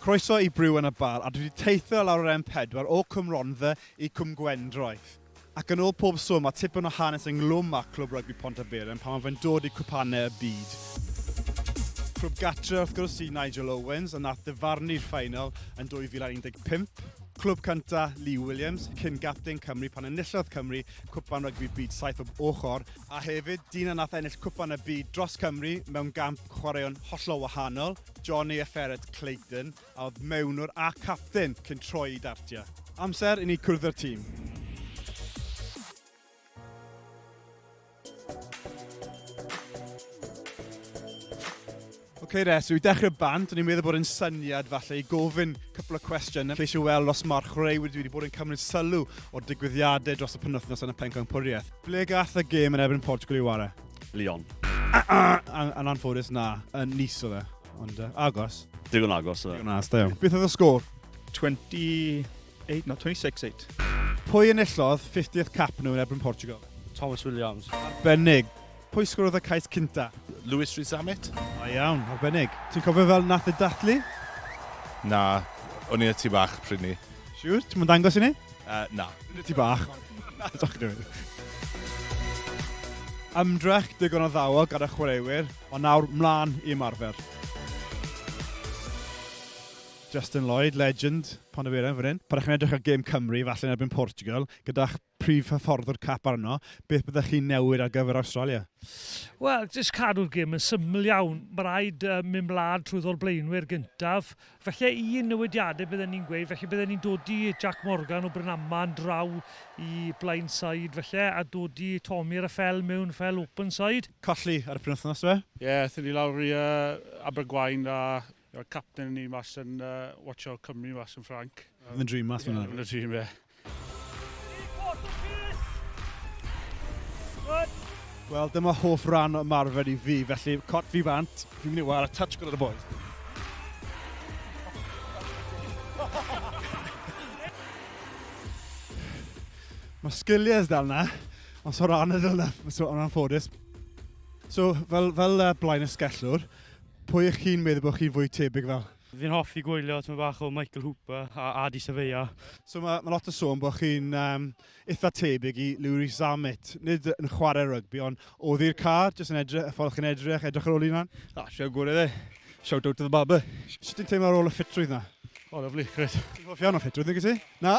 Croeso i Brew yn y Bar a dwi wedi teithio i lawr yr M4 o Cwm Rhondda i Cwm Gwendraeth. Ac yn ôl pob sôn mae tipyn o hanes ynglwm â Clwb Rygbi Pontyberem pan mae fe'n dod i cwpanau y byd. Clwb gartre wrth gwrs i Nigel Owens a nath ddyfarnu'r ffaenol yn 2015. Clwb cynta Lee Williams, cyn gapten Cymru pan enillodd Cymru Cwpan Rygbi Byd saith bob ochr, a hefyd dyn a nath ennill Cwpan y Byd dros Cymru mewn gamp Chwaraeon hollol wahanol, Jonny a Ferret Clayton, a oedd mewnwr a capten cyn troi i dartiau. Amser i ni cwrdd â'r tîm. Oce Res, yw dechrau bant, o'n i'n meddwl bod yn syniad falle i gofyn cwpl o cwestiwn. Ceisio weld os mae'r chwaraewyr wedi bod yn cymryd sylw o'r digwyddiadau dros y penwythnos yn y Pencampwriaeth. Ble gath y gêm yn erbyn Portugal i ware? Lyon. Yn anffodus, na. Yn Nice o fe. Ond uh, agos. Digon agos o fe. Digon agos, da iawn. Beth oedd y sgôr? 28, no, 26-8. Pwy yn illodd 50th cap nhw yn erbyn Portugal? Thomas Williams. Arbennig. Pwy sgwrodd y cais cynta? Lewis Rhys Zammit. Da iawn, arbennig. Ti'n cofio fel nath y dathlu? Na, o'n i y tu bach pryd ni. Siwr, ti'n mwyn dangos i ni? Uh, na. Dwi'n ti bach. na, dwi'n dwi'n. Ymdrech digon o ddawo gyda chwaraewyr, ond nawr mlaen i ymarfer. Justin Lloyd, legend, pan y fan hyn. Pan ydych chi'n edrych ar gêm Cymru, falle yn erbyn Portugal, gyda'ch prif hyffordd o'r cap arno, beth byddech chi'n newid ar gyfer Awstralia? Wel, jyst cadw'r gym yn syml iawn. Mae rhaid uh, mynd mlad trwy ddol blaenwyr gyntaf. Felly un newidiadau bydden ni'n gweud, felly bydden ni'n dod i Jack Morgan o Brynaman draw i blaen side felly, a dod i Tommy ar y ffel mewn fel open side. Colli ar y penwthnos fe? Ie, yeah, thyn ni lawr i uh, Abergwain a Wel capten ni mas yn uh, Watch Out Cymru mas yn Ffranc. Yn y dream mas fyna. Yn y dream, ie. Wel, dyma hoff ran o marfer i fi, felly cot fi bant, fi'n mynd i war a touch gyda'r boys. Mae sgiliau dal na, ond so ran y dal na, so o'n anffodus. So, fel, fel uh, blaen y sgellwr, Pwy ych chi'n meddwl bod chi'n fwy tebyg fel? Fi'n hoffi gwylio tyma bach o Michael Hooper a Adi Safeya. So mae, mae lot o sôn bod chi'n um, eitha tebyg i Louis Zammit. Nid yn chwarae rygbi, ond oddi'r car, jyst yn edrych, y ffordd chi'n edrych, edrych ar ôl un lan. Ah, siw gwrdd e. Shout out to the barber. Sut ti'n teimlo ar ôl y ffitrwydd na? O, oh, lyflu, gret. Ti'n hoff iawn o ffitrwydd, nid ti? Na?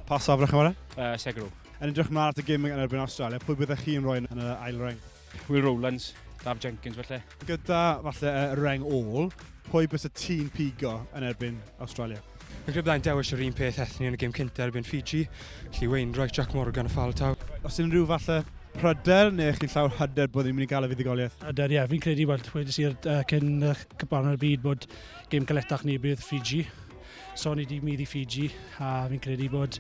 Pa safle chwarae? Uh, Segro. Yn edrych mlaen at y gym yn erbyn Australia, pwy byddech chi'n rhoi yn y ail reng? Will Rowlands, Daf Jenkins felly. Gyda falle y reng ôl, pwy bys y tîn pigo yn erbyn Australia? Y grib dda'n dewis yr un peth ethni yn y gym cyntaf erbyn Fiji, lle Wayne Roy, Jack Morgan a ffal taw. Os unrhyw falle pryder neu chi'n llawer hyder bod ni'n mynd i gael y fuddugoliaeth? Hyder, ie. Fi'n credu, wel, wedi si'r uh, cyn uh, cyparn ar y byd bod gêm galetach ni bydd Fiji. So ni di mynd i Fiji a fi'n credu bod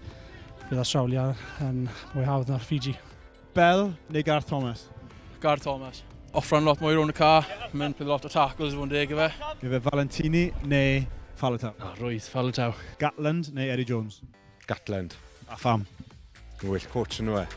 bydd Australia yn mwy hawdd na'r Fiji. Bell neu Garth Thomas? Garth Thomas. Offran lot mwy rhwng y ca, mynd bydd lot o tackles i fod yn deg i fe. Efe Valentini neu Faletau? Ah, rwydd, Faletau. Gatland neu Eddie Jones? Gatland. A pham? Mae'n well coach yn nhw e.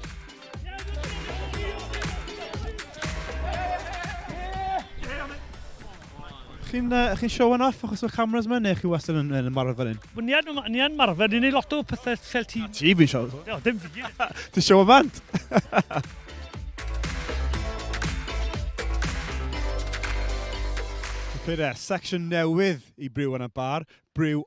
Chi'n uh, chi show yn off achos o'r cameras yma neu chi wastad yn, yn marfer fan hyn? Wel, ni yn, ni yn marfer, ni'n ei lot o pethau fel ti. Ti fi'n show? No, dim fi. Ti'n show y band? Pere, section newydd i Brew yn y Bar, Brew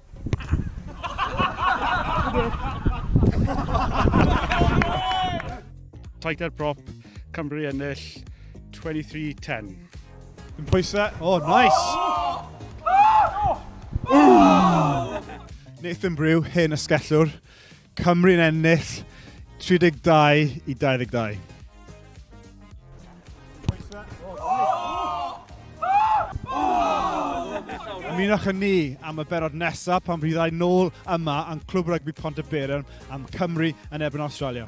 Tighter prop, Cymru ennill 23-10. Yn pwysau. Oh, nice! Nathan Brew, hen ysgellwr. Cymru'n ennill 32 i 22. Ymunwch â ni am y berod nesaf pan fyddai nôl yma yn Clwb Rygbi Pont y Berern am Cymru yn erbyn Awstralia.